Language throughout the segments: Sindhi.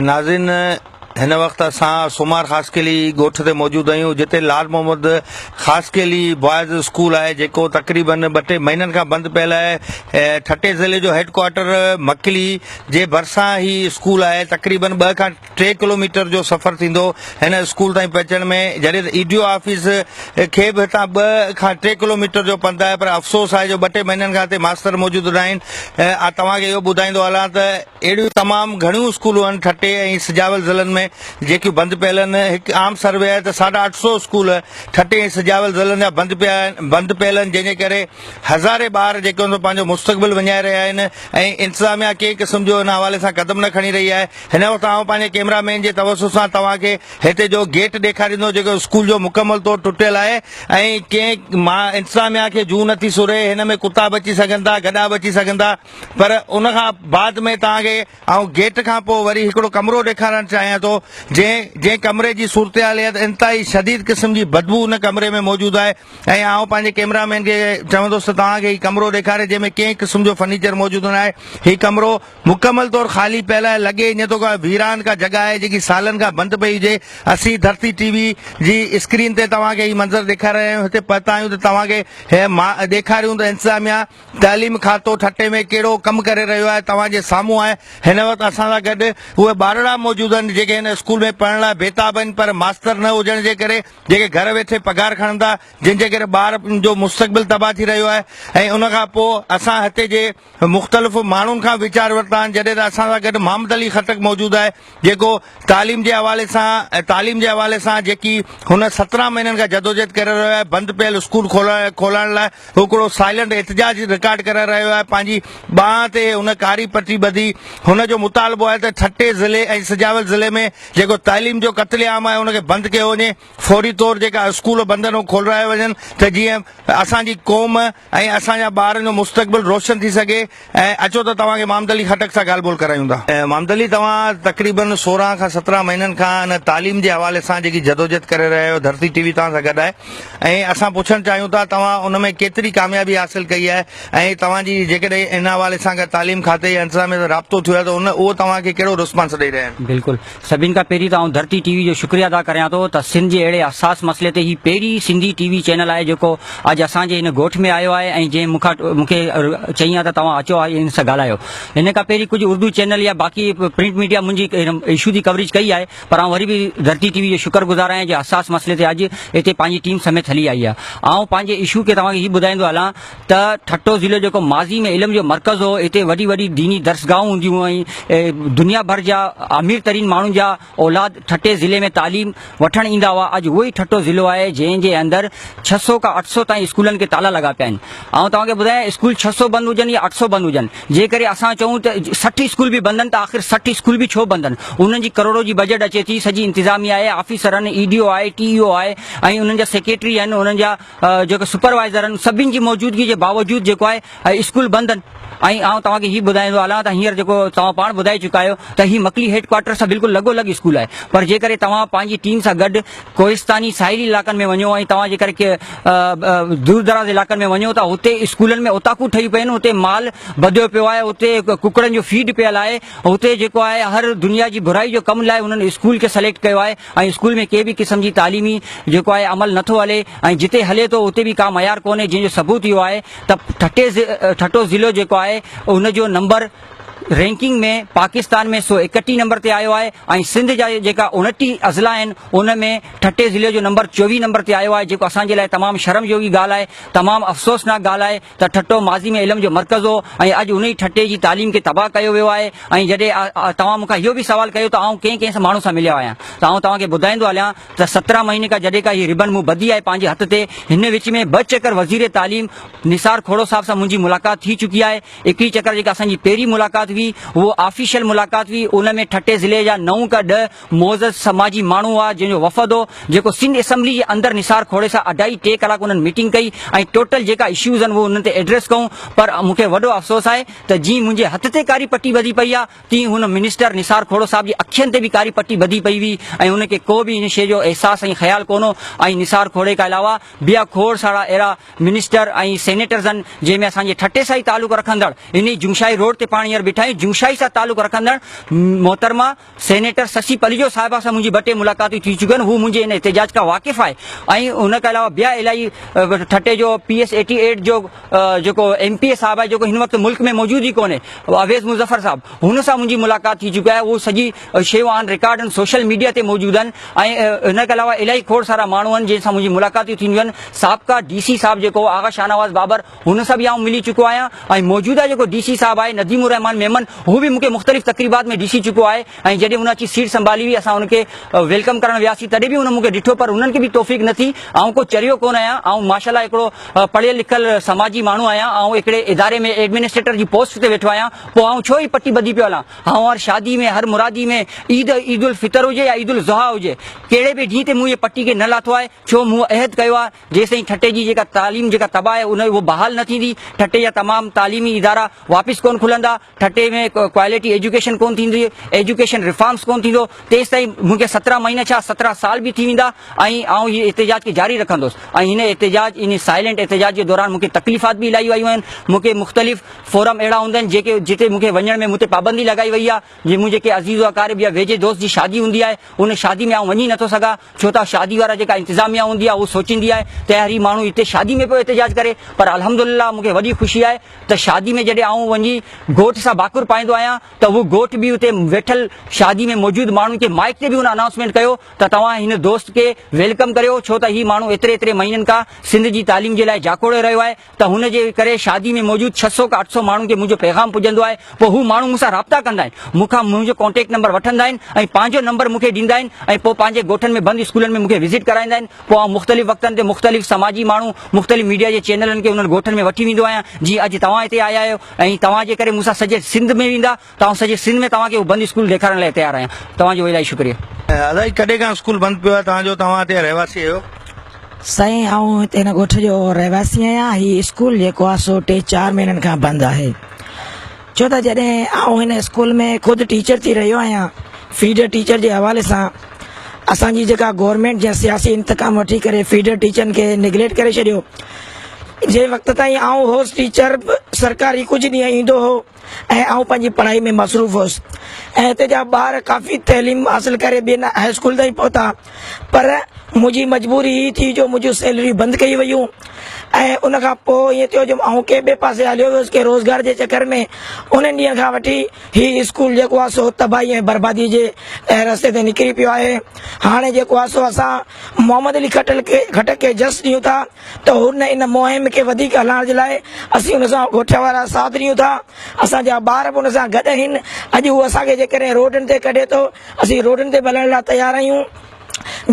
ناظرين هن وقت اسان سومار خاصخيلي ڳوٺ تي موجود آهيون جتي لال محمد خاصخيلي بوائز اسڪول آهي جيڪو تقريبن ٻه ٽي مهينن کان بند پيل آهي ٺٽي ضلعي جو هيڊ ڪوارٽر مڪلي جي ڀرسان هي اسڪول آهي تقريبن ٻه کان ٽي ڪلوميٽر جو سفر ٿيندو هن اسڪول تائين پهچڻ ۾ جڏهن ته اي ڊي او آفيس کي به هتان ٻه کان ٽي ڪلوميٽر جو پنڌ آهي پر افسوس آهي جو ٻه ٽي مهينن کان هتي ماستر موجود نه آهن آء توهان کي اهو ٻڌائيندو هلان ته اهڙيون تمام گهڻيون اسڪولون آهن ٺٽي ۽ سجاول ضلعن ۾ جيڪيون بند پيل آهن هڪ عام سروي آهي ته ساڍا اٺ سؤ اسڪول ٺٽي ۽ سجاول ضلعن جا بند پيا بند پيل آهن جنهن جي ڪري هزارين ٻار جيڪي هن پنهنجو مستقبل وڃائي رهيا آهن ۽ انتظاميا ڪنهن قسم جو هن حوالي سان قدم نه کڻي رهي آهي هن وقت آئون پنهنجي ڪيمرا مين جي توسط سان توهان کي هتي جو گيٽ ڏيکاريندو جيڪو اسڪول جو مڪمل طور ٽٽيل آهي ۽ ڪنهن ما انتظاميا کي جون نٿي سوري هن ۾ ڪتا به اچي سگهن ٿا گڏا به اچي سگهن ٿا پر ان کان بعد ۾ توهان کي آئون گيٽ کان پوء وري هڪڙو ڪمرو ڏيکارڻ چاهيان ٿو جنهن جنهن ڪمري جي صورتحاليت انتهائي شديد قسم جي بدبو ان ڪمري ۾ موجود آهي ۽ آئون پنهنجي ڪيمرا مين کي چوندس ته توهان کي هي ڪمرو ڏيکاري جنهن ۾ ڪنهن قسم جو فرنيچر موجود نه آهي هي ڪمرو مڪمل طور خالي پيل آهي، لڳي ايئن ٿو ڪا ويران ڪا جڳهه آهي جيڪي سالن کان بند پئي هجي، اسين ڌرتي ٽي وي جي اسڪرين تي توهان کي هي منظر ڏيکاري رهيا آهيون، هتي پهتا آهيون ته توهان کي هي ڏيکاريون ته انتظاميا تعليم کاتو ٺٽي ۾ ڪهڙو ڪم ڪري رهيو آهي، توهان جي سامهون آهي هن وقت اسان سان گڏ اهي ٻارڙا موجود آهن جيڪي هن اسڪول ۾ پڙهڻ لاء بيتاب آهن پر ماستر نه هجڻ جي ڪري جيڪي گهر ويٺي پگهار کڻن ٿا جنهن جي ڪري ٻار جو مستقبل تباهه ٿي رهيو آهي ۽ ان کان پوء اسان هتي جي مختلف ماڻهن کان ويچار ورتا آهن جڏهن ته اسان سان گڏ محمد علي خٽڪ موجود آهي جيڪو تعليم جي حوالي سان تعليم جي حوالي سان جيڪي هن سترهن مهينن کان جدوجهد ڪري رهيو آهي بند پيل اسڪول کولڻ لاء هڪڙو سائلنٽ احتجاج رڪارڊ ڪري رهيو آهي پنهنجي ٻانهن تي هن ڪاري پٽي ٻڌي هن جو مطالبو آهي ته ٺٽي ضلعي ۽ سجاول ضلعي ۾ جيڪو تعليم جو قتل عام آهي ان کي بند ڪيو وڃي فوري طور جيڪا اسڪول بند آهن اهي کولرايا وڃن ته جيئن اسان جي قوم ۽ اسان جا ٻارن جو مستقبل روشن ٿي سگهي ۽ اچو ته توهان کي محمد علي خٽڪ سان ڳالهه ٻولهه ڪرايون ٿا. محمد علي توهان تقريبن سورهن کان سترهن مهينن کان ان تعليم جي حوالي سان جيڪي جدوجهد ڪري رهيا آهيو ڌرتي ٽي وي توهان سان گڏ آهي ۽ اسان پڇڻ چاهيون ٿا توهان ان ۾ ڪيتري ڪاميابي حاصل ڪئي آهي ۽ توهان جي جيڪڏهن ان حوالي سان تعليم کاتي يا انتظاميه سان رابطو ٿيو آهي ته ان اهو توهان کي ڪهڙو رسپانس ڏئي رهيا آهن. بلڪل سڀن کان پهرين ته آئون ڌرتي ٽي وي جو شڪريه ادا ڪريان ٿو ته سنڌ جي اهڙي حساس مسئلي تي هي پهرين سنڌي ٽي وي چينل آهي جيڪو اڄ اسان جي هن ڳوٺ ۾ آيو آهي ۽ جنهن مون کان مون کي چيائين ته توهان اچو آئي ان سان ڳالهايو هن کان پهرين ڪجهه اردو چينل يا باقي پرنٽ ميڊيا منهنجي ايشو جي ڪوريج ڪئي آهي پر آئون وري به ڌرتي ٽي وي جو شڪر گذار آهيان جي حساس مسئلي تي اڄ هتي پنهنجي ٽيم سميت هلي آئي آهي آئون پنهنجي ايشو کي توهان کي هي ٻڌائيندو هلان ته ٺٽو ضلعو جيڪو ماضي ۾ علم جو مرڪز هو هتي وڏي وڏي ديني درسگاهون هونديون هئائين دنيا ڀر جا امير ترين ماڻهن جا اولاد ٺٽي ضلعي ۾ تعليم وٺڻ ايندا هئا اڄ اهو ئي ٺٽو ضلعو آهي جنهن جي اندر ڇهه سو کان اٺ سو تائين اسڪولن کي تالا لڳا پيا آهن آئون توهان کي ٻڌايان اسڪول ڇهه سو بند هجن يا اٺ سو بند هجن جي ڪري اسان چئون ته سٺ اسڪول به بند آهن ته آخر سٺ اسڪول به ڇو بند آهن انهن جي ڪروڙو جي بجيٽ اچي ٿي سڄي انتظاميا آهي آفيسر آهن اي ڊي او آهي ٽي او آهي ۽ انهن جا سيڪريٽري آهن انهن جا جيڪي سپروائيزر آهن سڀني جي موجودگي جي باوجود جيڪو آهي اسڪول بند آهن ۽ آئون توهان کي هي ٻڌائيندو هلان ته هينئر جيڪو توهان پاڻ ٻڌائي چڪا آهيو ته هي مڪلي هيڊ ڪوارٽر سان بلڪل لڳو لڳ اسڪول آهي پر جيڪڏهن توهان پنهنجي ٽيم سان گڏ ڪوهستاني ساحلي علائقن ۾ وڃو ۽ توهان جيڪڏهن دور دراز علائقن ۾ وڃو ته هتي اسڪولن ۾ اوطاقون ٺهي پيون هتي مال ٻڌيو پيو آهي هتي ڪڪڙن جو فيڊ پيل آهي هتي جيڪو آهي هر دنيا جي برائي جو ڪم لاء هنن اسڪول کي سليڪٽ ڪيو آهي ۽ اسڪول ۾ ڪنهن به قسم جي تعليمي جيڪو آهي عمل نه ٿو هلي ۽ جتي هلي ٿو اتي به ڪا معيار ڪونهي جنهن جو ثبوت اهو آهي ته ٺٽي ٺٽو ضلعو جيڪو آهي ان جو نمبر رينڪنگ ۾ پاڪستان ۾ سو اڪٽيهه نمبر تي آيو آهي ۽ سنڌ جا جيڪا اڻٽيهه اضلاع آهن ان ۾ ٺٽي ضلعي جو نمبر چوويهه نمبر تي آيو آهي جيڪو اسان جي لاء تمام شرم جوڳي ڳالهه آهي تمام افسوسناڪ ڳالهه آهي ته ٺٽو ماضي ۾ علم جو مرڪز هو ۽ اڄ انهي ٺٽي جي تعليم کي تباهه ڪيو ويو آهي ۽ جڏهن توهان مون کان اهو به سوال ڪيو ته آئون ڪنهن ڪنهن ماڻهو سان مليو آهيان ته آئون توهان کي ٻڌائيندو هليان ته سترهن مهيني کان جڏهن کان هي ربن مون ٻڌي آهي پنهنجي هٿ تي هن وچ ۾ ٻه چڪر وزير تعليم نثار کهڙو صاحب سان منهنجي ملاقات ٿي چڪي آهي هڪڙي چڪر جيڪا اسان جي پهرين ملاقات هئي اهو آفيشل ملاقات هئي ان ۾ ٺٽي ضلعي جا نو کان ڏهه معزز سماجي ماڻهو هئا جنهن جو وفد هو جيڪو سنڌ اسيمبلي جي اندر نثار کوڙي سان اڍائي ٽي ڪلاڪ انهن ميٽنگ ڪئي ۽ ٽوٽل جيڪا اشيوز آهن اهي انهن تي ايڊريس ڪئون پر مون کي وڏو افسوس آهي ته جيئن منهنجي هٿ تي ڪاري پٽي ٻڌي پئي آهي تيئن هن منسٽر نثار کهوڙو صاحب جي اکين تي به ڪاري پٽي ٻڌي پئي هئي ۽ ان کي ڪو به ان شيء جو احساس ۽ خيال ڪون هو ۽ نثار کوڙي کان علاوه بيا کوڙ سارا اهڙا منسٽر ۽ سينيٽرز آهن جنهن ۾ اسان جي ٺٽي سان ئي تعلق رکندڙ انهي جوشاهي روڊ تي پاڻ هينئر بيٺا آهيون جوشاهي سان تعلق رکندڙ محترمه سينيٽر سسي پليجو صاحبه سان منهنجي ٻه ٽي ملاقاتون ٿي چڪيون آهن، هو منهنجي ان احتجاج کان واقف آهي ۽ ان کان علاوه بيا الاهي ٺٽي جو پي ايس ايٽي ايٽ جو جيڪو ايم پي اي صاحب آهي جيڪو هن وقت ملڪ ۾ موجود ئي ڪونهي اويس مظفر صاحب هن سان منهنجي ملاقات ٿي چڪي آهي اهو سڄي شيون آن رڪارڊ آهن سوشل ميڊيا تي موجود آهن ۽ ان کان علاوه الاهي کوڙ سارا ماڻهو آهن جن سان منهنجي ملاقاتون ٿينديون آهن سابقا ڊي سي صاحب جيڪو آغا شاهنواز بابر هن سان به آئون ملي چڪو آهيان ۽ موجوده جيڪو ڊي سي صاحب آهي نديم الرحمان ميمن هو به مونکي مختلف تقريبات ۾ ڏسي چڪو آهي ۽ جڏهن هن اچي سيٽ سنڀالي هئي اسان هن کي ويلڪم ڪرڻ وياسين تڏهن به هن مونکي ڏٺو پر هنن کي به توفيق نه ٿي آئون ڪو چريو ڪونه آهيان آئون ماشاالله هڪڙو پڙهيل لکيل سماجي ماڻهو آهيان آئون هڪڙي اداري ۾ ايڊمنسٽريٽر جي پوسٽ تي ويٺو آهيان پوء آئون ڇو هي پٽي ٻڌي پيو هلان آئون هر شادي ۾ هر مرادي ۾ عيد عيد الفطر هجي يا عيد الاضحيٰ هجي ڪهڙي به ڏينهن تي مون هي پٽي کي نه لاٿو آهي ڇو مون عهد ڪيو آهي جيستائين ٺٽي جي جيڪا تعليم جيڪا تباهه آهي ان اهو بحال نه ٿيندي ٺٽي جا تمام تعليمي ادارا واپس ڪون کلندا ٺٽي ۾ ڪواليٽي ايجوڪيشن ڪون ٿيندي ايجوڪيشن ريفارمس ڪون ٿيندو تيستائين مونکي سترهن مهينا ڇا سترهن سال به ٿي ويندا ۽ آئون هي احتجاج کي جاري رکندس ۽ هن احتجاج ان سائلنٽ احتجاج جي دوران مونکي تڪليفات به الائي ويون آهن مونکي مختلف فورم اهڙا هوندا آهن جيڪي جتي مونکي وڃڻ ۾ مون تي پابندي لڳائي وئي آهي جي منهنجي ڪنهن عزيز و اقارب يا ويجهي دوست جي شادي هوندي آهي، ان شادي ۾ آئون وڃي نٿو سگهان، ڇو ته شادي وارا جيڪا انتظاميا هوندي آهي اهو سوچيندي آهي ته يار هي ماڻهو هتي شادي ۾ پيو احتجاج ڪري، پر الحمدلله مونکي وڏي خوشي آهي ته شادي ۾ جڏهن آئون وڃي گهوٽ سان ڀاڪر پائيندو آهيان ته اهو گهوٽ به اتي ويٺل شادي ۾ موجود ماڻهن کي مائيڪ تي به ان انائونسمينٽ ڪيو ته توهان هن دوست کي ويلڪم ڪريو ڇو ته هي ماڻهو ايتري ايتري مهينن کان سنڌ جي تعليم جي لاء جاکوڙي رهيو آهي، ته هن جي ڪري شادي ۾ موجود ڇهه سؤ کان اٺ سؤ ماڻهن کي منهنجو پيغام پڄندو آهي، پوء هو ماڻهو مون سان رابطا ڪندا آهن، مون کان منهنجو ڪانٽيڪٽ نمبر وٺندا آهن ۽ پنهنجو نمبر مون کي ڏيندا آهن ۽ پوء پنهنجي ڳوٺن ۾ بند اسڪولن ۾ مون کي وزٽ ڪرائيندا آهن، پوء آئون مختلف وقتن تي مختلف سماجي ماڻهو، مختلف ميڊيا جي چينلن کي انهن ڳوٺن ۾ وٺي ويندو آهيان، جيئن اڄ توهان هتي آيا آهيو ۽ توهان جي ڪري مون سان سڄي سنڌ ۾ ويندا، تون سڄي سنڌ ۾ توهان کي اهو بند اسڪول ڏيکارڻ لاء تيار آهيان توهان جو الائي شڪريو. ادا جي ڪڏهن کان اسڪول بند پيو آهي توهان جو توهان هتي جا رهواسي آهيو. سائين آئون هتي هن ڳوٺ جو رهواسي آهيان هي اسڪول جيڪو آهي سو ٽي چار مهينن کان بند آهي ڇو ته جڏهن آئون هن اسڪول ۾ خود ٽيچر ٿي رهيو آهيان فيڊر ٽيچر جي حوالي سان اسان جي جيڪا گورمينٽ جنهن سياسي انتقام وٺي ڪري فيڊر ٽيچرن کي نگليٽ ڪري ڇڏيو جنهن وقت تائين آئون هوس ٽيچر سرڪاري ڪجهه ڏينهن ايندو هو ۽ آئون پنهنجي پڙهائي ۾ مصروف هوس ۽ هتي جا ٻار ڪافي تعليم حاصل ڪري ٻين هاء اسڪول تائين پهتا پر منهنجي مجبوري هي ٿي جو منهنجون سيلريون بند ڪيون ويون ۽ ان کان پوء ائين ٿيو جو آئون ڪنهن ٻئي پاسي هليو ويس ڪنهن روزگار جي چڪر ۾ انهن ڏينهن کان وٺي هي اسڪول جيڪو آهي سو تباهي ۽ بربادي جي رستي تي نڪري پيو آهي هاڻي جيڪو آهي سو اسان محمد علي کٽڪ کي جس ڏيون ٿا ته هن ان مهم کي وڌيڪ هلائڻ جي لاء اسين هن سان ڳوٺ وارا ساٿ ڏيون ٿا، اسان جا ٻار به هن سان گڏ آهن، اڄ هو اسان کي جيڪڏهن روڊن تي ڪڍي ٿو، اسين روڊن تي به هلڻ لاء تيار آهيون،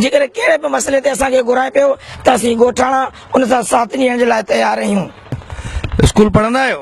جيڪڏهن ڪهڙي به مسئلي تي اسان کي گهرائي پيو ته اسين ڳوٺاڻا ان سان ساٿ ڏيڻ جي لاء تيار آهيون. اسڪول پڙهندا آهيو؟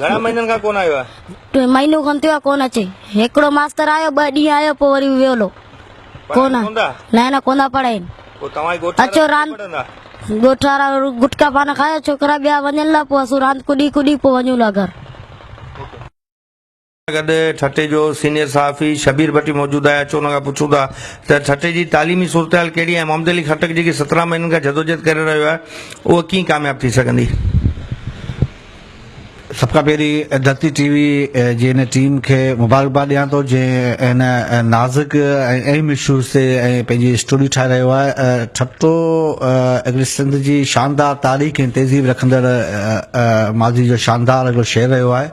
گهڻا مهينن کان ڪونه آيو آهي مهينو کن ٿيو آهي ڪونه اچي هڪڙو ماستر آيو ٻه ڏينهن آيو پوء وري ويو لو ڪونه نه نه ڪونه پڙهين پوء توهان ڳوٺ اچو راند ڳوٺ وارا گٽڪا پان کايو ڇوڪرا ٻيا وڃن لا پوء اسو راند ڪڏي ڪڏي پوء وڃون لا گهر سان گڏ ٺٽي جو سينيئر صحافي شبير ڀٽي موجود آهي اچو ان کان پڇون ٿا ته ٺٽي جي تعليمي صورتحال ڪهڙي آهي محمد علي خٽڪ جيڪي سترهن مهينن کان جدوجهد ڪري رهيو آهي اهو ڪيئن ڪامياب ٿي سگهندي سڀ کان پهرين ڌرتي ٽي وي جي ان ٽيم کي مبارڪباد ڏيان ٿو جنهن ان نازڪ ۽ اهم اشوز تي ۽ پنهنجي اسٽوري ٺاهي رهيو آهي ٺٽو هڪڙي سنڌ جي شاندار تاريخ ۽ تهذيب رکندڙ ماضي جو شاندار هڪڙو شهر رهيو آهي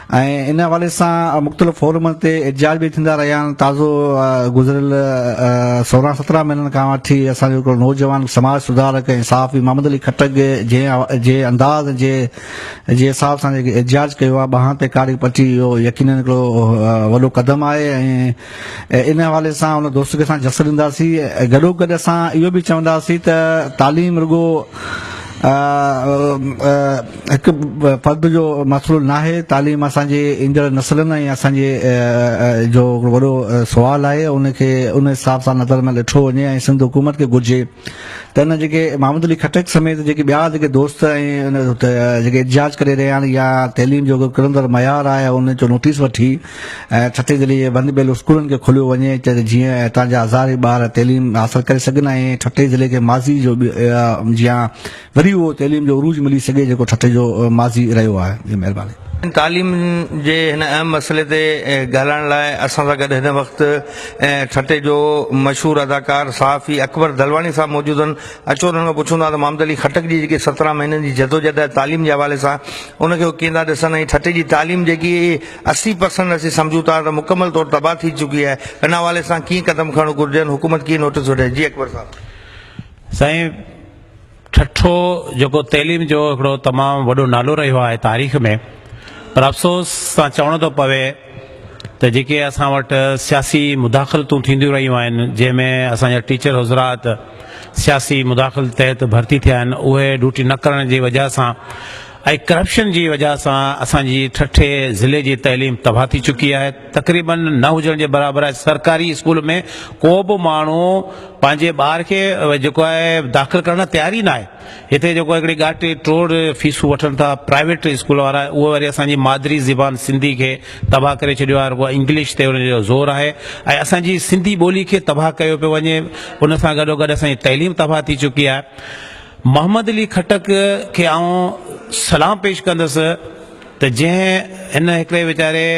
۽ ان حوالي سان مختلف فورمن تي احتجاج به ٿيندا رهيا آهن تازو گذريل سورهن سترهن مهينن کان وٺي اسان جو هڪڙو نوجوان سماج سڌارڪ ۽ صحافي محمد علي کٽڪ جي انداز جي جي حساب سان جيڪي احتجاج ڪيو آهي ٻانهن تي ڪاري پٽي اهو يقينن هڪڙو وڏو قدم آهي ۽ ان حوالي سان ان دوست کي اسان جس ڏينداسين ۽ گڏوگڏ اسان اهو به چونداسين ته تعليم رڳو هڪ فرد جو مسئلو ناهي، تعليم اسان جي ايندڙ نسلن ۽ اسان جي جو هڪڙو وڏو سوال آهي ان کي ان حساب سان نظر ۾ ڏٺو وڃي ۽ سنڌ حڪومت کي گهرجي ته ان جيڪي محمد علي خٽڪ سميت جيڪي ٻيا جيڪي دوست ۽ جيڪي احتجاج ڪري رهيا آهن يا تعليم جو ڪرندڙ معيار آهي ان جو نوٽيس وٺي ۽ ٺٽي ضلعي جي بند پيل اسڪولن کي کوليو وڃي ته جيئن اتان جا هزارين ٻار تعليم حاصل ڪري سگهن ۽ ٺٽي ضلعي کي ماضي جو جيان وري اهو تعليم جو عروج ملي سگهي جيڪو ٺٽي جو ماضي رهيو آهي جي مهرباني. تعليم جي هن اهم مسئلي تي ڳالهائڻ لاء اسان سان گڏ هن وقت ٺٽي جو مشهور اداڪار صحافي اڪبر دلواڻي صاحب موجود آهن اچو انهن کان پڇون ٿا ته محمد علي خٽڪ جي جيڪي سترهن مهينن جي جدوجهد آهي تعليم جي حوالي سان ان کي هو ڪيئن ٿا ڏسن ۽ ٺٽي جي تعليم جيڪي اسي پرسنٽ اسين سمجهون ٿا ته مڪمل طور تباهه ٿي چڪي آهي ان حوالي سان ڪيئن قدم کڻڻ گهرجن حڪومت ڪيئن نوٽس وٺي جي اڪبر صاحب. سائين ٺٽو جيڪو تعليم جو هڪڙو تمام وڏو نالو رهيو آهي تاريخ ۾ پر افسوس سان چوڻو ٿو پوي ته جيڪي اسان وٽ سياسي مداخلتون ٿينديون رهيون آهن جنهن ۾ اسان جا ٽيچر حضرات سياسي مداخلت تحت ڀرتي ٿيا آهن اهي ڊوٽي نه ڪرڻ جي وجهه سان ۽ ڪرپشن جي وجهه سان اسان جي ٺٽي ضلعي جي تعليم تباهه ٿي چڪي آهي تقريبا نه هجڻ جي برابر آهي سرڪاري اسڪول ۾ ڪو به ماڻهو پنهنجي ٻار کي جيڪو آهي داخل ڪرڻ لاء تيار ئي نه آهي هتي جيڪو هڪڙي ڳاٽي ٽوڙ فيسون وٺن ٿا پرائيويٽ اسڪول وارا اهي وري اسان جي مادري زبان سنڌي کي تباهه ڪري ڇڏيو آهي رڳو انگلش تي ان جو زور آهي ۽ اسان جي سنڌي ٻولي کي تباهه ڪيو پيو وڃي ان سان گڏو گڏ اسان جي تعليم تباهه ٿي چڪي آهي محمد علي خٽڪ کي آئون سلام پيش ڪندس ته جنهن هن هڪڙي ويچاري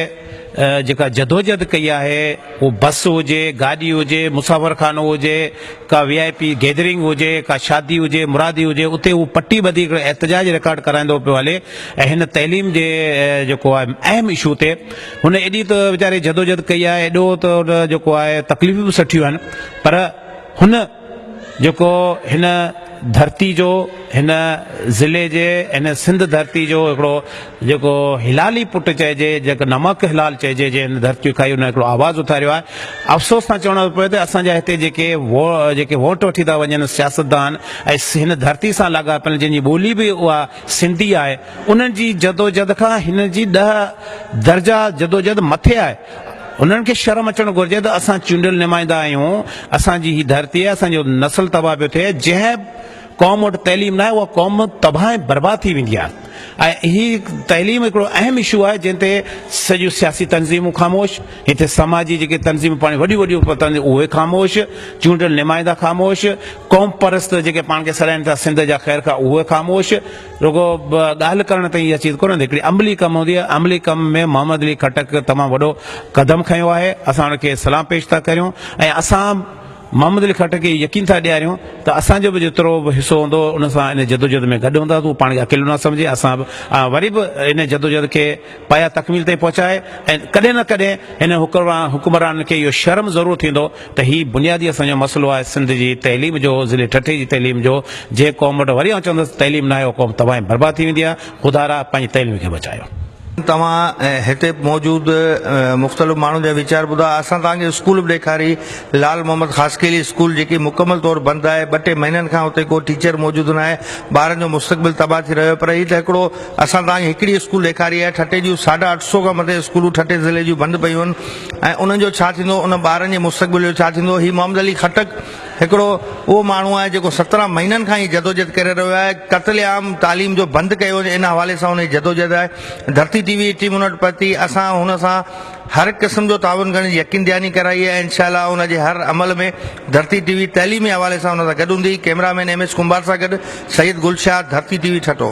جيڪا جدوجهد ڪئي آهي اهو بس هجي، گاڏي هجي، مسافر خانو هجي، ڪا وي آء پي گيدرنگ هجي، ڪا شادي هجي، مرادي هجي اتي هو پٽي ٻڌي هڪڙو احتجاج رڪارڊ ڪرائيندو پيو هلي ۽ هن تعليم جي جيڪو آهي اهم اشو تي هن ايڏي ته ويچاري جدوجهد ڪئي آهي ايڏو ته هن جيڪو آهي تڪليفون به سٺيون آهن پر هن جيڪو هن ڌرتي جو هن ضلعي جي هن سنڌ ڌرتي جو هڪڙو جيڪو هلالي پٽ چئجي جيڪو نمڪ هلال چئجي جنهن هن ڌرتي کائي ان هڪڙو آواز اٿاريو آهي افسوس سان چوڻو ٿو پوي ته اسان جا هتي جيڪي جيڪي ووٽ وٺي ٿا وڃن سياستدان ۽ هن ڌرتي سان لاڳاپيل جن جي ٻولي به اها سنڌي آهي انهن جي جدوجھد کان هن جي ڏهه درجا جدوجھد مٿي آهي انهن کي شرم اچڻ گهرجي ته اسان چونڊيل نمائندا آهيون، اسان جي هي ڌرتي آهي، اسان جو نسل تباهه پيو ٿئي، جنهن قوم وٽ تعليم ناهي اها قوم تباهه ۽ برباد ٿي ويندي آهي ۽ هي تعليم هڪڙو اهم اشو آهي جنهن تي سڄيون سياسي تنظيمون خاموش، هتي سماجي جيڪي تنظيمون پاڻ وڏيون وڏيون اهي خاموش، چونڊيل نمائندا خاموش، قوم پرست جيڪي پاڻ کي سڏائين ٿا سنڌ جا خيرخواهه اهي خاموش، رڳو ڳالهه ڪرڻ تائين اها چيز ڪونه هوندي هڪڙي عملي ڪم هوندي آهي عملي ڪم ۾ محمد علي خٽڪ تمام وڏو قدم کنيو آهي اسان ان کي سلام پيش ٿا ڪريون ۽ اسان محمد علي خٽڪ کي يقين ٿا ڏياريون ته اسان جو به جيترو به حصو هوندو ان سان ان جدوجهد ۾ گڏ هونداسون پاڻ کي اڪيلو نه سمجهي اسان به وري به ان جدوجهد کي پايا تڪميل تائين پهچائي ۽ ڪڏهن نه ڪڏهن هن حڪمرانن کي اهو شرم ضرور ٿيندو ته هي بنيادي اسان جو مسئلو آهي سنڌ جي تعليم جو ضلعي ٺٽي جي تعليم جو جنهن قوم وٽ وري آئون چوندس تعليم ناهي اها قوم تباهه ۽ برباد ٿي ويندي آهي خدا را پنهنجي تعليم کي بچايو. توهان هتي موجود مختلف ماڻهن جا ويچار ٻڌا اسان توهان کي اسڪول به ڏيکاري لال محمد خاصخيلي اسڪول جيڪي مڪمل طور بند آهي ٻه ٽي مهينن کان اتي ڪو ٽيچر موجود ناهي ٻارن جو مستقبل تباهه ٿي رهيو پر هي ته هڪڙو اسان توهان کي هڪڙي اسڪول ڏيکاري آهي ٺٽي جون ساڍا اٺ سئو کان مٿي اسڪولون ٺٽي ضلعي جون بند پيون آهن ۽ انهن جو ڇا ٿيندو انهن ٻارن جي مستقبل جو ڇا ٿيندو هي محمد علي خٽڪ هڪڙو اهو ماڻهو آهي جيڪو سترهن مهينن کان هي جدوجهد ڪري رهيو آهي قتل عام تعليم جو بند ڪيو وڃي ان حوالي سان هن جي جدوجهد آهي ڌرتي ٽي وي ٽيم هن وٽ پهتي اسان هن سان هر قسم جو تعاون ڪرڻ جي يقين دهاني ڪرائي آهي انشاء الله ان جي هر عمل ۾ ڌرتي ٽي وي تعليمي حوالي سان هن سان گڏ هوندي cameraman M S Kumbhar سان گڏ سيد گل شاهه ڌرتي ٽي وي ٺٽو.